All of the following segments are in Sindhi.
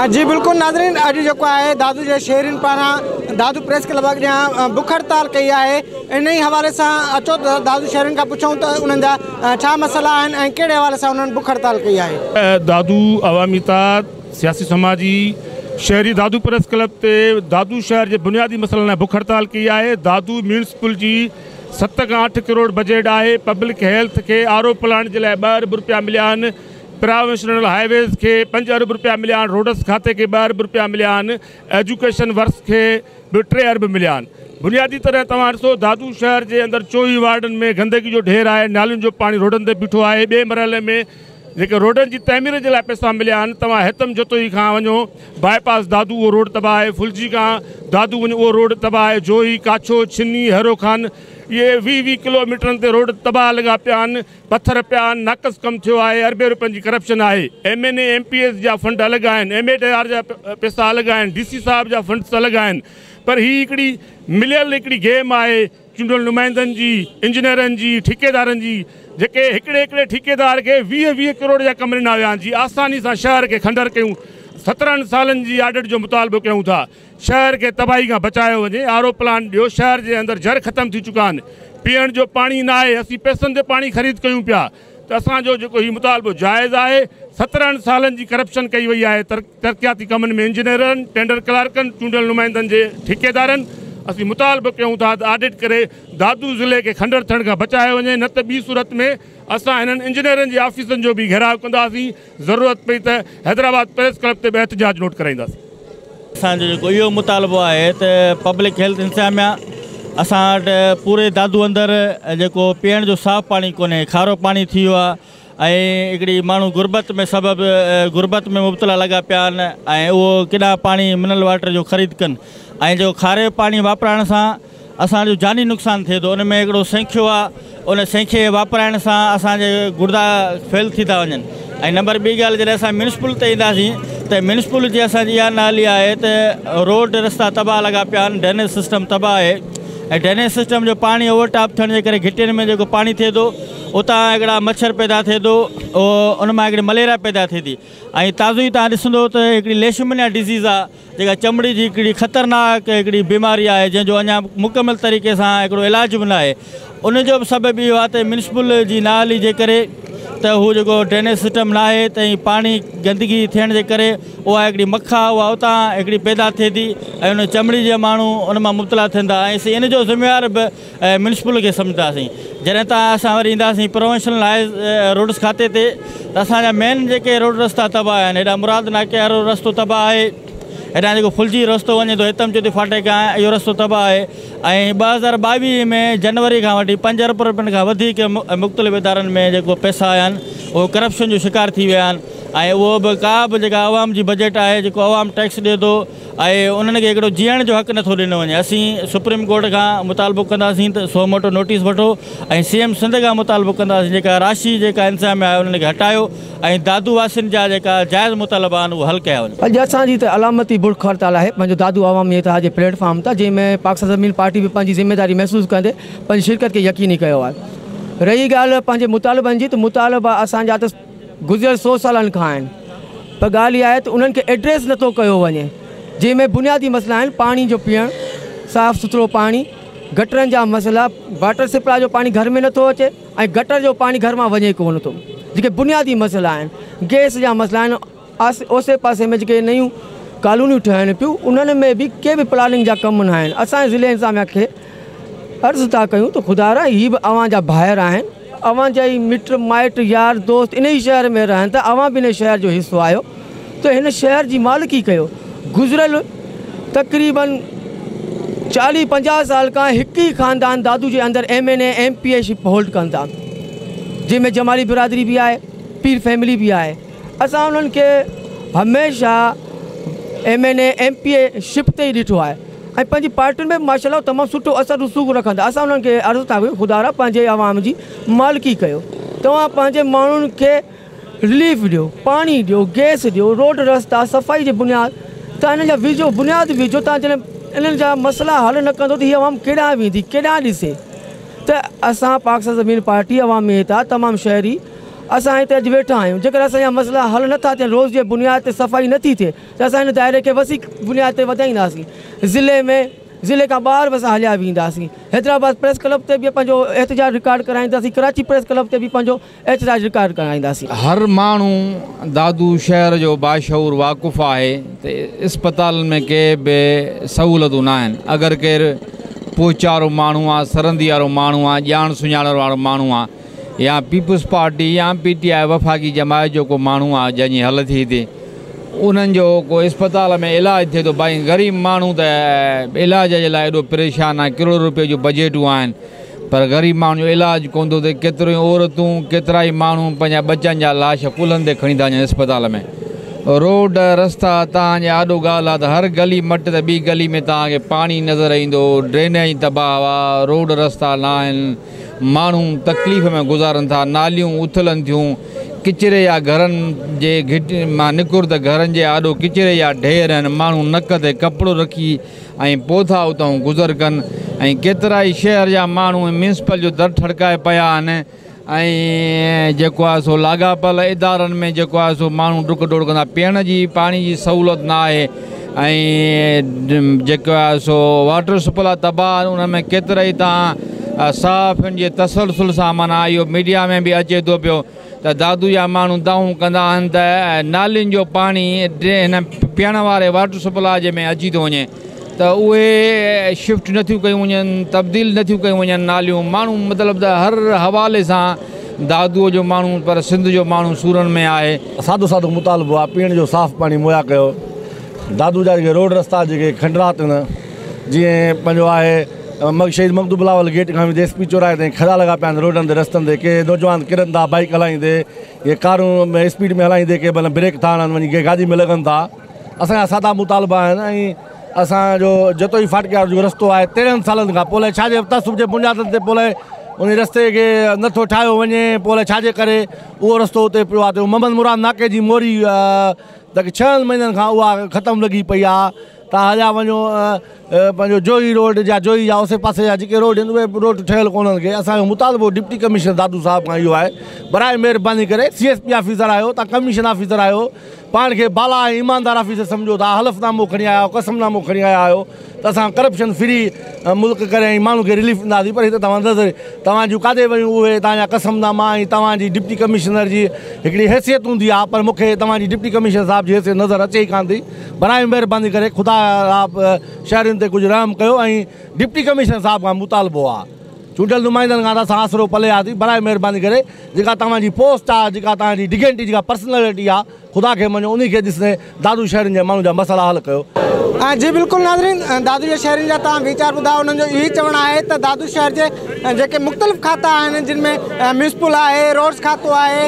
جي بلڪل ناظرين اڄ جيڪو آهي دادو جي شهرين پاران دادو پريس ڪلب اڳيان بک هڙتال ڪئي آهي انهي حوالي سان اچو ته دادو شهرين کان پڇون ته انهن جا ڇا مسئلا آهن ۽ ڪهڙي حوالي سان انهن بک هڙتال ڪئي آهي دادو عوامي اتحاد سياسي سماجي شهري دادو پريس ڪلب تي دادو شهر جي بنيادي مسئلن لاء بک هڙتال ڪئي آهي دادو ميونسپل جي ست کان اٺ ڪروڙ بجيٽ آهي پبلڪ هيلٿ کي آر او پلانٽ جي لاء ٻه ارب رپيا مليا آهن پراويشنل هاء ويز کي پنج ارب رپيا مليا آهن، روڊس کاتي کي ٻه ارب رپيا مليا آهن، ايجوڪيشن ورڪس کي به ٽي ارب مليا آهن. بنيادي طرح توهان ڏسو دادو شهر جي اندر چوئي وارڊن ۾ گندگي جو ڍير آهي، نالين جو پاڻي روڊن تي بيٺو آهي، ٻئي مرحلي ۾ جيڪي روڊن جي تعمير جي لاء پئسا مليا آهن، توهان هيتم جتوئي کان وڃو باء پاس دادو اهو روڊ تباهه آهي، ڦلجي کان دادو وڃو اهو روڊ تباهه آهي، جوهي، ڪاڇو، ڇني، هيرو خان اهي ويهه ويهه ڪلو ميٽرن تي روڊ تباهه لڳا پيا آهن، پٿر پيا آھن ناقص ڪم ٿيو آھي اربين روپين جي ڪرپشن آھي M N A M P S جا فنڊ الڳ آھن ايم ايڊ آر جا پيسا الڳ آھن ڊي سي صاحب جا فنڊس الڳ آھن پر ھي ھڪڙي مليل ھڪڙي گيم آھي چونڊيل نمائندن جي انجنيئرن جي ٺيڪيدارن جي جيڪي ھڪڙي ھڪڙي ٺيڪيدار کي ويهه ويهه ڪروڙ جا ڪم ڏنا ويا آھن جي آساني سان شھر کي کنڊر ڪيون سترھن سالن جي آڊٽ جو مطالبو ڪيون ٿا. شهر کي تباهي کان بچايو وڃي، آر او پلانٽ ڏيو، شهر جي اندر جھر ختم ٿي چڪا آھن، پيئڻ جو پاڻي نه آھي، اسين پئسن تي پاڻي خريد ڪيون پيا ته اسان جو جيڪو هي مطالبو جائز آھي، سترهن سالن جي ڪرپشن ڪئي وئي آھي، ترقياتي ڪمن ۾ انجنيئرن، ٽينڊر ڪلارڪن، چونڊيل نمائندن جي ٺيڪيدارن، اسين مطالبو ڪيون ٿا ته آڊٽ ڪري دادو ضلعي کي کنڊر ٿيڻ کان بچايو وڃي نه ته ٻي صورت ۾ اسان هنن انجنيئرن جي آفيسن جو به گھيراء ڪنداسين، ضرورت پئي ته حيدرآباد پريس ڪلب تي به احتجاج نوٽ ڪرائينداسين. اسان جو جيڪو اهو مطالبو آهي ته پبلڪ هيلٿ انتظاميا اسان وٽ پوري دادو اندر جيڪو پيئڻ جو صاف پاڻي ڪونهي کارو پاڻي ٿي ويو آهي ۽ هڪڙي ماڻهو غربت ۾ سبب غربت ۾ مبتلا لڳا پيا آهن ۽ اهو ڪيڏانهن پاڻي منرل واٽر جو خريد ڪن ۽ جو کاري پاڻي واپرائڻ سان اسان جو جاني نقصان ٿئي ٿو ان ۾ هڪڙو سينکيو آ ان سينکي واپرائڻ سان اسان جي گڙدا فيل ٿي ٿا وڃن ۽ نمبر ٻي ڳالهه جڏهن اسان ميونسپل تي اينداسين ته ميونسپل جي اسان جي اها نالي آهي ته روڊ رستا تباهه لڳا پيا آهن ڊرينيج سسٽم تباهه آهي ۽ ڊرينيج سسٽم جو پاڻي اوور ٽاپ ٿيڻ جي ڪري گهٽين ۾ جيڪو پاڻي ٿئي ٿو اتان هڪڙا مڇر پيدا ٿئي ٿو ان مان هڪڙي مليريا پيدا ٿئي ٿي ۽ تازو ئي تان ڏسندو ته هڪڙي ليشمنيا ڊزيز آ جيڪا چمڙي جي هڪڙي خطرناڪ هڪڙي بيماري آهي جنهن جو اڃا مڪمل طريقي سان هڪڙو علاج به ناهي ان جو به سبب اهو آهي ته ميونسپل جي نااهلي جي ڪري ته هو جيڪو ڊرينيج سسٽم ناهي ته ۽ پاڻي گندگي ٿيڻ جي ڪري اها هڪڙي مک آهي اها اتان هڪڙي پيدا ٿئي ٿي ۽ ان چمڙي جي ماڻهو ان مان مبتلا ٿين ٿا ۽ ان جو ذميوار به ۽ ميونسپل کي سمجهنداسين جڏهن ته اسان وري اينداسين پروونشنل هاء روڊس کاتي تي ته اسان جا مين جيڪي روڊ رستا تباهه آهن هيڏانهن مراد ناڪي وارو رستو تباهه آهي هيڏانهن جيڪو ڦلجي رستو وڃي ٿو هتم چوٽي ڦاٽي کان اهو رستو تباهه آهي ۽ ٻه هزار ٻاويهه ۾ جنوري کان وٺي پنج ارب روپين کان وڌيڪ مختلف ادارن ۾ جيڪو پئسا آيا آهن اهو ڪرپشن جو شڪار ٿي ويا آهن ۽ اهو به ڪا به جيڪا عوام جي بجيٽ آهي جيڪو عوام ٽيڪس ڏي ٿو ۽ انهن کي هڪڙو جيئڻ جو حق نٿو ڏنو وڃي، اسين سپريم ڪورٽ کان مطالبو ڪنداسين ته سو موٽو نوٽيس وٺو ۽ سي ايم سنڌ کان مطالبو ڪنداسين جيڪا راشي جيڪا انتظاميا آهي انهن کي هٽايو ۽ دادو واسين جا جيڪا جائز مطالبا آهن اهي حل ڪيا وڃن. اڄ اسان جي ته علامتي بلڪ هڙتال آهي پنهنجو دادو عوامي اتحاد جي پليٽ فارم تان جنهن ۾ پاڪستان زمين پارٽي به پنهنجي ذميداري محسوس ڪندي پنهنجي شرڪت کي يقيني ڪيو آهي رهي ڳالهه پنهنجي مطالبن جي ته مطالبا اسان جا ته گذريل سو سالن کان آهن پر ڳالهه اها آهي ته انهن کي ايڊريس نٿو ڪيو وڃي جنهن ۾ بنيادي مسئلا آهن پاڻي جو پيئڻ صاف سٿرو پاڻي گٽرن جا مسئلا واٽر سپلاء جو پاڻي گهر ۾ نٿو اچي ۽ گٽر جو پاڻي گهر مان وڃي ڪونه ٿو جيڪي بنيادي مسئلا آهن گيس جا مسئلا آهن اوسي پاسي ۾ جيڪي نيون ڪالونيون ٺهن پيون انهن ۾ به ڪي به پلاننگ جا ڪم نه آهن اسان جي ضلعي انتظاميا کي عرض ٿا ڪيون ته خدا را هي به اوهان جا ڀائر آهن اوهان جا ئي مٽ مائٽ يار دوست ان ئي شهر ۾ رهن ٿا اوهان به ان شهر جو حصو آهيو ته هن شهر جي مالڪي ڪيو گذريل تقريبن چاليهه پنجاهه سال کان هڪ ئي خاندان دادو جي اندر M N A M P A ship hold ڪن ٿا جنهن ۾ جمالي برادري به آهي پير فيملي به آهي اسان انهن کي هميشه M N A M P A ship تي ئي ڏٺو آهي ۽ پنهنجي پارٽين ۾ به ماشاء الله تمام سٺو اثر رسوخ رکن ٿا اسان انهن کي عرض ٿا ڪيون خدا را پنهنجي عوام جي مالڪي ڪيو توهان پنهنجي ماڻهن کي رليف ڏيو پاڻي ڏيو گيس ڏيو روڊ رستا صفائي جي بنياد تان انهن جا وجهو بنياد وجهو تان جڏهن انهن جا مسئلا حل نه ڪندو ته هي عوام ڪيڏانهن ويندي ڪيڏانهن ڏسي ته اسان پاڪستان زمين پارٽي عوامي اتحاد تمام شهري اسان هتي اڄ ويٺا آهيون، جيڪڏهن اسان جا مسئلا حل نه ٿا ٿين، روز جي بنياد تي صفائي نه ٿي ٿئي ته اسان هن دائري کي وسيع بنياد تي وڌائينداسين، ضلعي ۾ ضلعي کان ٻاهر به اسان هليا وينداسين، حيدرآباد پريس ڪلب تي به پنهنجو احتجاج رڪارڊ ڪرائينداسين، ڪراچي پريس ڪلب تي به پنهنجو احتجاج رڪارڊ ڪرائينداسين. هر ماڻهو دادو شهر جو باشعور واقف آهي ته اسپتالن ۾ ڪي به سهولتون ناهن، اگر ڪير پوچارو ماڻهو آ، سرندي وارو ماڻهو آ، ڄاڻ سڃاڻڻ وارو ماڻهو آ، يا پيپلز پارٽي يا پي ٽي آء وفاقي جماعت جو ڪو ماڻهو آ جنهن جي هل ٿي هتي انهن جو ڪو اسپتال ۾ علاج ٿئي ٿو بائي غريب ماڻهو ته علاج جي لاء ايڏو پريشان آهن ڪروڙ روپي جون بجيٽون آهن پر غريب ماڻهن جو علاج ڪون ٿو ٿئي ڪيتريون ئي عورتون ڪيترا ئي ماڻهو پنهنجا ٻچن جا لاش ڪلهن تي کڻي ٿا وڃن اسپتال ۾ روڊ رستا تان جي آڏو ڳالهه آ ته هر گلي مٽ ته ٻي گلي ۾ تان کي پاڻي نظر ايندو ڊرينيج تباهه آ روڊ رستا ناهن ماڻهو تڪليف ۾ گذارن ٿا، ناليون اٿلن ٿيون، ڪچري يا گهرن جي گهٽ مان نڪر ته گهرن جي آڏو ڪچري يا ڍير آهن، ماڻهو نڪ تي ڪپڙو رکي ۽ پوء ٿا اتان گذر ڪن ۽ ڪيترائي شهر جا ماڻهو ميونسپل جو در ٺڙڪائي پيا آهن ۽ جيڪو آهي سو لاڳاپيل ادارن ۾ جيڪو آهي سو ماڻهو ڊڪ ڊوڙ ڪندا، پيئڻ جي پاڻي جي سهولت نه آهي. ۽ جيڪو آهي سو واٽر سپلاء تباهه آهن انهن ۾ ڪيترائي تان صحافين جي تسلسل سان معنيٰ اهو ميڊيا ۾ به اچي ٿو پيو ته دادو جا ماڻهو دانهون ڪندا آهن ته نالين جو پاڻي هن پيئڻ واري واٽر سپلاء جي ۾ اچي ٿو وڃي ته اهي شفٽ نٿيون ڪيون وڃن تبديل نٿيون ڪيون وڃن ناليون ماڻهو مطلب ته هر حوالي سان دادو جو ماڻهو پر سنڌ جو ماڻهو سورن ۾ آهي سادو سادو مطالبو آ پيئڻ جو صاف پاڻي مهيا ڪيو دادو جا جيڪي روڊ رستا جيڪي کنڊرا تن جيئن پنهنجو آهي مگ شهيد مگدو بلاول گيٽ کان ويندي ايس پي چوراهي تائين کڙا لڳا پيا آهن روڊن تي رستن تي ڪي نوجوان ڪرن ٿا بائيڪ هلائيندي ڪي ڪارون ۾ اسپيڊ ۾ هلائيندي ڪي بل بريڪ ٿا هڻن وڃي ڪي گاڏي ۾ لڳن ٿا اسان جا سادا مطالبا آهن ۽ اسان جو جتوئي فاٽڪي وارو جو رستو آهي تيرنهن سالن کان پوء لائي ڇا جي تعصب جي بنيادن تي پوء لائي ان رستي کي نٿو ٺاهيو وڃي پوء لائي ڇا جي ڪري اهو رستو اتي پيو آهي جو محمد مراد ناڪي جي موري جيڪي ڇهن مهينن کان اها ختم لڳي پئي آهي تان هليا وڃو پنهنجو جوهي روڊ جا جوهي جا اوسي پاسي جا جيڪي روڊ آهن اهي روڊ ٺهيل ڪونه آهن اسانجو مطالبو ڊپٽي ڪمشنر دادو صاحب کان اهو آهي براء مهرباني ڪري سي ايس پي آفيسر آهيو تان ڪمشن آفيسر آهيو پاڻ کي بالا ۽ ايماندار آفيسر سمجهو ٿا حلف نامو کڻي آيا آهيو قسم نامو کڻي آيا آهيو ته اسان ڪرپشن فري ملڪ ڪري ۽ ماڻهن کي رليف ڏينداسين پر هي ته توهان نظر توهان جون ڪاڏي ويون اهي توهان جا قسم ناما ۽ توهان جي ڊپٽي ڪمشنر جي هڪڙي حيثيت هوندي آهي پر مون کي توهان جي ڊپٽي ڪمشنر صاحب جي حيثيت نظر اچي ئي ڪانه ٿي براهه مهرباني ڪري خدا شهرين تي ڪجهه رحم ڪيو ۽ ڊپٽي ڪمشنر صاحب کان مطالبو آهي چونڊيل نمائندن کان اسان آسرو پلي آياسين براء مهرباني ڪري جيڪا توهان جي پوسٽ آ جيڪا توهان جي ڊگينٽي جيڪا پرسنلٽي آ خدا کي مڃو انهي کي ڏسندي دادو شهرين جي ماڻهن جا مسئلا حل ڪيو. جي بلڪل ناظرين دادو جي شهرين جا توهان ويچار ٻڌا انهن جو اهوئي چوڻ آهي ته دادو شهر جي جيڪي مختلف کاتا آهن جن ۾ ميونسپل آهي روڊز کاتو آهي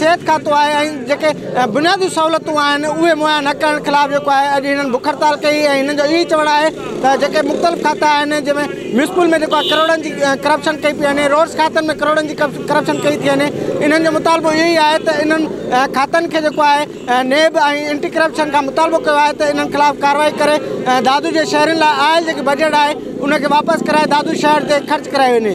صحت کاتو آهي ۽ جيڪي بنيادي سهولتون آهن اهي مهيا نه ڪرڻ خلاف جيڪو آهي اڄ هنن بک هڙتال ڪئي ۽ هنن جو اهوئي چوڻ آهي ته جيڪي مختلف کاتا آهن جنهن ۾ ميونسپل ۾ جيڪو آهي ڪروڙن جي ڪرپشن ڪئي پئي وڃي روڊس کاتن ۾ ڪروڙن جي ڪرپشن ڪئي ٿي وڃي انهن جو مطالبو اهو ئي آهي ته انهن کاتن کي جيڪو آهي نيب ۽ انٽي ڪرپشن کان مطالبو ڪيو آهي ته انهن خلاف ڪارروائي ڪري دادو جي شهرين لاء آيل جيڪي بجيٽ آهي ان کي واپس ڪرائي دادو شهر تي خرچ ڪرايو وڃي